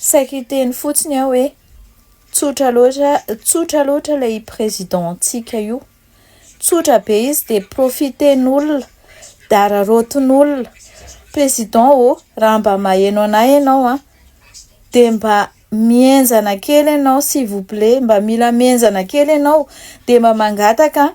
Saika hiteny fotsiny aho hoe tsotra loatra tsotra loatra ilay i président ntsika io. Tsotra be izy dia profiten'olona, dararaotin'olona. Président ô, raha mba maheno anay ianao an, dia mba mihenjana kely ianao s'il vous plait, mba mila mihenjana kely ianao dia mba mangataka an.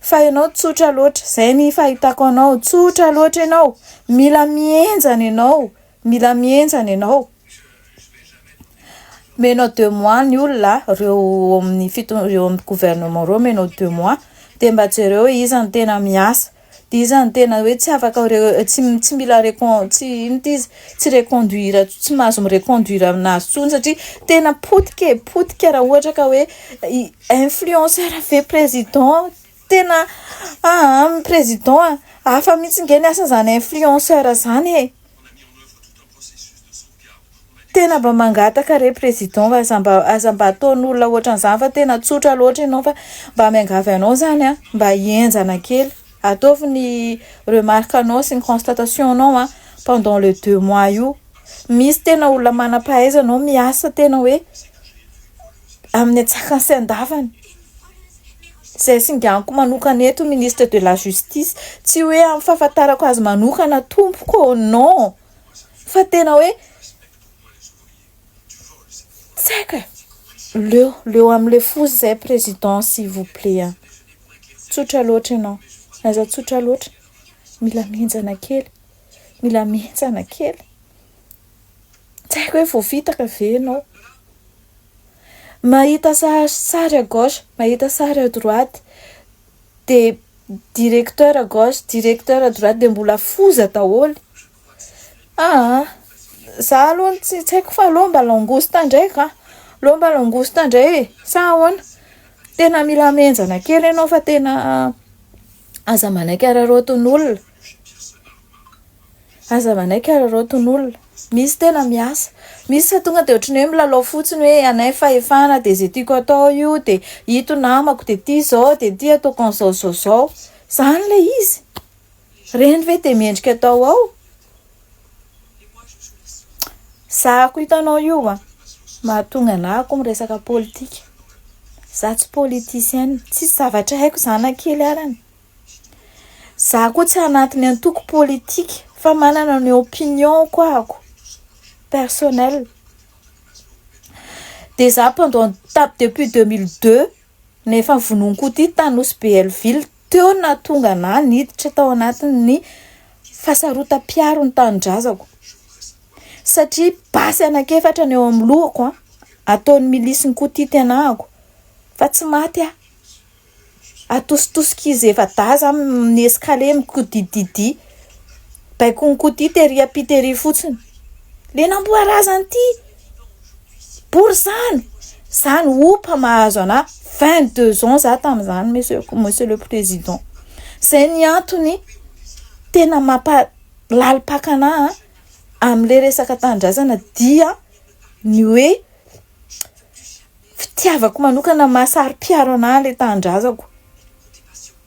Fa ianao tsotra loatra. Zay ny fahitako anao. Tsotra loatra ianao. Mila mihenjana ianao. Mila mihenjana ianao. Menao deux mois ny olona, ireo ao amin'ny fiton- ireo amin'ny gouvernement ireo menao deux mois, dia mba jereo hoe iza no tena miasa. Dia iza no tena hoe tsy afaka tsy mila tsy reconduire tsy mahazo mi reconduire aminazy intsony satria tena potika e, potika raha ohatra ka hoe influenceur ve président? tena aa président a! hafa mihitsy ange ny asan'izany influenceur izany e! Tena mba mangataka re président fa aza mba aza mba ataon'olona ohatran'izany fa tena tsotra loatra ianao fa mba miangavy anao izany an, mba henjana kely, ataovy ny remarque anao sy ny constatation anao an, pendant le deux mois io, misy tena olona manam-pahaizana ao miasa tena hoe. amin'ny antsakany sy andavany. Izay singaniko manokana eto ministre de la justice, tsy hoe amin'ny fahafantarako azy manokana tompoko ô, non, fa tena hoe tsy haiko e, leo leo amin'ilay foza izay président s'il vous plait an, tsotra loatra ianao, aza tsotra loatra, mila mihenjana kely, mila mihenjana kely. Tsy haiko hoe voafitaka ve ianao. Mahita sary à gauche, mahita sary à droite, dia directeur à gauche, directeur à droite, dia mbola foza daholo. Aa! Izaho aloha tsy haiko fa aleo mba langouste indray ka! Aleo mba langouste indray e! Sa ahoana? Tena mila mihenjana kely ianao fa tena aza manaiky araraotin'olona. Aza manaiky ary reo ton'olona. Misy tena miasa. Misy fa tonga dia ohatran'ny hoe milalao fotsiny hoe anay fahefana dia izay tiako atao io dia ito namako dia ity izao dia ity ataoko an'izao izao izao. Izany ilay izy. Ireny ve dia mendrika atao ao? Zahako hitanao io an. Mahatonga anah akoho miresaka politika. Za tsy politicienne. Tsisy zavatra haiko izany na kely arany. Za koa tsy anatiny antoko politika fa manana ny opinion ko ako personnel. De za pendant tap depuis deux mille deux no efa vonoiny koa ty tany nosy be Helleville teo no nahatonga anah niditra tao anatiny fasarotam-piaro ny tanindrazako satria basy anak'efatra no eo amin'ny lohako an! ataony milisy ny koa ty tenako fa tsy maty ah! Atositosok'izy efa daza amin'ny escalier mikodididy. Baiko nikodia tery ampy tery fotsiny. Le namboarazany ity bory zany. Zany opa mahazo anah 22 ans za tamin'izany monsieur monsieur le président. Zay ny antony tena mampa lalim-paka anah amin'le resaka tanindrazana dia ny hoe fitiavako manokana maha saro-piaro anah ilay tanindrazako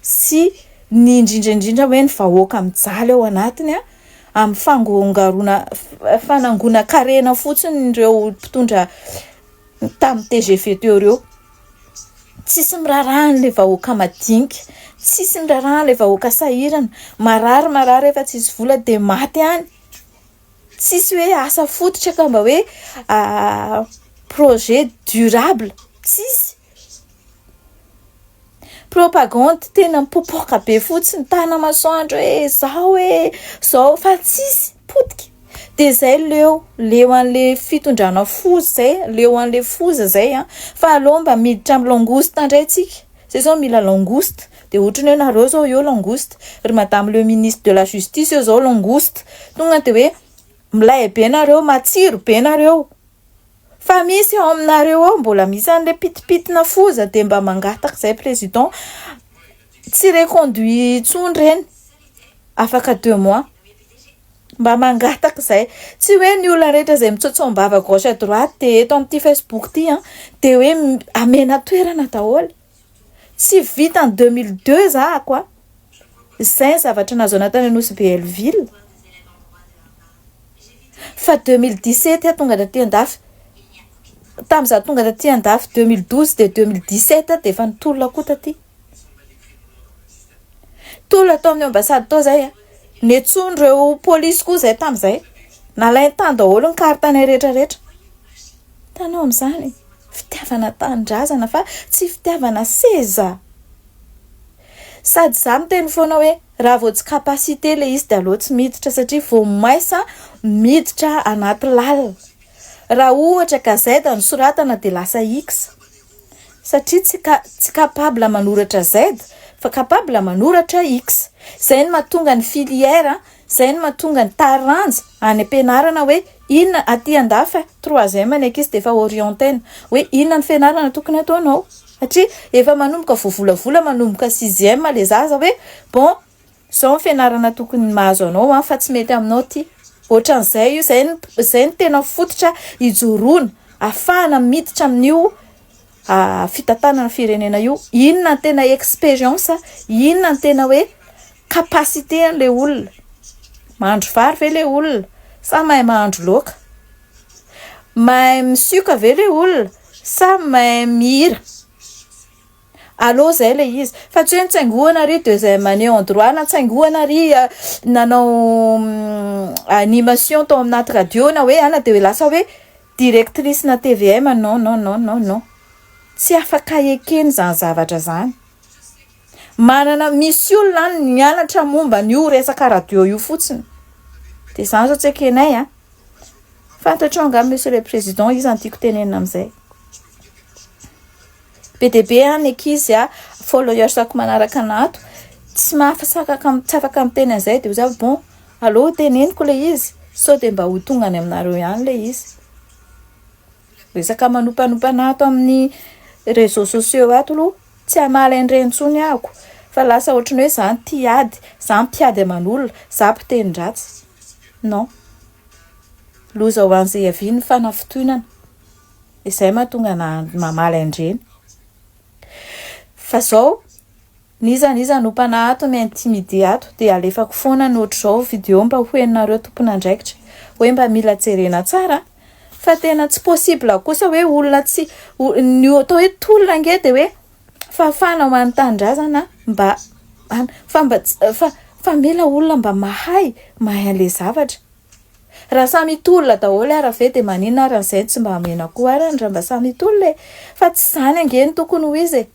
sy ny indrindra indrindra hoe ny vahoaka mijaly ao anatiny a amin'ny fangongaroana fanangonan-karena fotsiny ireo mpitondra tamin'ny TGV teo ireo tsisy mirarahan'ilay vahoaka madinika tsisy mirarahan'ilay vahoaka sahirana marary marary efa tsisy vola dia maty any Tsisy hoe asa fototra ka mba hoe projet durable, tsisy. Propagande tena mipopoka be fotsiny tana masoandro hoe zao hoe zao fa tsisy potika. Dia zay leo, leo an'le fitondrana foza zay, leo an'le foza zay an! Fa aleo mba miditra amin'ny langouste ndray tsika, zay zao mila langouste. Dia ohatran'ny hoe nareo zao eo langouste, ry madame le ministre de la justice eo zao langouste, tonga dia hoe milay be nareo, matsiro be nareo, fa misy ao aminareo ao mbola misy anle pitipitina foza dia mba mangataka zay président tsy reconduit intsony reny afaka deux mois, mba mangataka zay, tsy hoe ny olona rehetra zay mitsaotsaom-bava à gauche à droite dia eto amin'ity facebook ity an dia hoe amena toerana daholo. Tsy vitan'ny deux mille deux za ako a! Zay ny zavatra nahazoana tany Nosy Belleville. Fa deux mille dix sept aho tonga taty andafy. Tamin'ny za tonga taty andafy deux mille douze dia deux mille dix sept dia efa nitolona koa taty. Tolona tao amin'ny ambassade tao zay a! Nentsoin'ireo polisy koa zay tamin'izay. Nalainy tany daholo ny carte-nay rehetra rehetra. Hitanao amin'izany? Fitiavana tanindrazana fa tsy fitiavana seza. Sady za miteny foana hoe raha vao tsy capacité ilay izy dia aleo tsy miditra satria vao maisa miditra anaty lalina. Raha ohatra gazette no soratana dia lasa X. Satria tsy ka tsy capable manoratra Z fa capable manoratra X. Zay no mahatonga ny filière, zay no mahatonga ny taranja any am-pianarana hoe inona aty an-dafy troisième ny ankizy dia efa orienter-na hoe inona no fianarana tokony ataonao satria efa manomboka voavolavola manomboka sixième le zaza hoe bon, Zao ny fianarana tokony mahazo anao an fa tsy mety aminao ity. Ohatran'izay io, izay no izay no tena fototra ijoroana ahafahana miditra amin'io fitantanana firenena io. Inona no tena expérience, inona no tena hoe capacité an'ilay olona. Mahandro vary ve ilay olona sa mahay mahandro laoka? Mahay misioka ve ilay olona sa mahay mihira? Allo zay le izy fa tsy hoe nitsaingohana ry deuxième année en droit na nitsaingohana ry nanao animation tao amin'aty radio na hoe ana de lasa hoe directrice na tvm non non non non non tsy afaka ekena izany zavatra zany manana misy olona any mianatra momba an'io resaka radio io fotsiny de izany zao tsy ekenay an fantatrao angaha monsieur le président iza no tiako tenenina amin'izay Be dia be an ny ankizy a, followers ako manaraka an ato, tsy mahafasakaka tsy afaka miteny an'izay dia hoy za bon aleo ho teneniko ilay izy sao dia mba ho tonga any aminareo ihany ilay izy. Resaka manompanompana ato amin'ny réseaux sociaux ato aloha tsy hamaly an'ireny intsony ahako fa lasa ohatran'ny hoe za no tia ady, za mpiady aman'olona, za mpiteni-dratsy. Non. Loza ho an'izay hiavian'ny fanafitohinana. izay mahatonga na mamaly andreny fa zao n'iza n'iza no mpana ato ny intimidé ato dia alefako foana ny ohatr'izao vidéo mba ho henonareo tompon'andraikitra hoe mba mila jerena tsara fa tena tsy possible kosa hoe olona tsy ny atao hoe tolona nge dia hoe fahafahana ho an'ny tanindrazana mba fa mba fa fa mila olona mba mahay mahay an'ilay zavatra Raha samy hitolona daholo ara ve dia maninona ara ny zay no tsy mba amena koa ara ny raha mba samy hitolona e! Fa tsy zany ange no tokony ho izy e!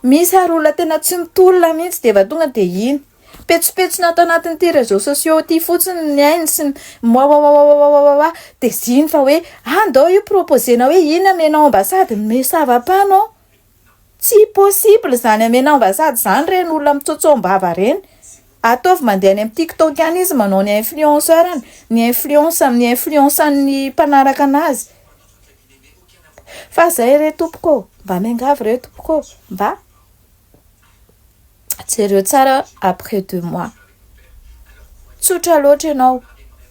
Misy ary olona tena tsy mitolona mihintsy dia efa tonga dia iny. Petsopetsona ato anatin'ity réseaux sociaux ity fotsiny ny ainy sy ny moaoaoaoaoaoaoa dia ziny fa hoe ah ndao io proposer-na hoe iny amenao ambassade mais ça va pas non! Tsy possible izany amena ambassade izany reny olona mitsotsombava reny. Ataovy mandeha any am tiktok any izy manao ny influenceur any, ny influence amin'ny influence an'ny mpanaraka anazy. Fa zay re tompoko ô! Mba miangavy re tompoko ô! Mba. Jereo tsara après deux mois. Tsotra loatra ianao,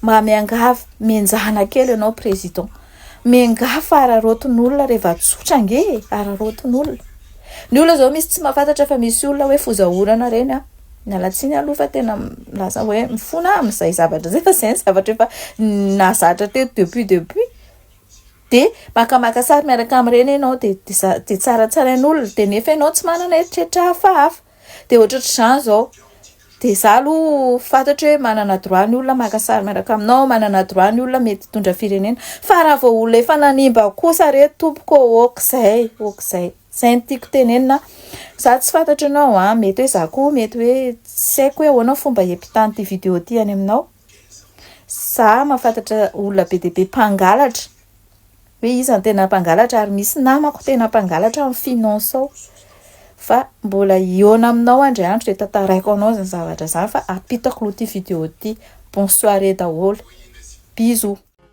mba miangavy, mihenjana kely ianao président. Miangavy fa araraotin'olona reva tsotra ange e, araraotin'olona. Ny olona zao misy tsy mahafantatra fa misy olona hoe foza orana reny an. Miala tsiny aloha fa tena milaza hoe mifona amin'izay zavatra izay fa izay ny zavatra efa nahazatra teto depuis depuis. Dia maka maka sary miaraka amin'ireny ianao dia dia tsaratsarain'olona dia nefa ianao tsy manana eritreritra hafahafa dia ohatratr'izany izao dia za aloha fantatro hoe manana droit ny olona maka sary miaraka aminao manana droit ny olona mety hitondra firenena fa raha vao olona efa nanimba kosa re tompoko ôkizay ôkizay izay no tiako tenenina za tsy fantatro ianao an mety hoe za koa mety hoe tsy haiko hoe ahoana fomba hiampitany ity video ity any aminao Za mahafantatra olona be dia be mpangalatra, hoe iza no tena mpangalatra ary misy namako tena mpangalatra amin'ny finance ao, fa mbola hihaona aminao andry andro dia tantaraiko anao izany zavatra izany fa ampitako aloha ity video ity, bonne soirée daholo, bisous.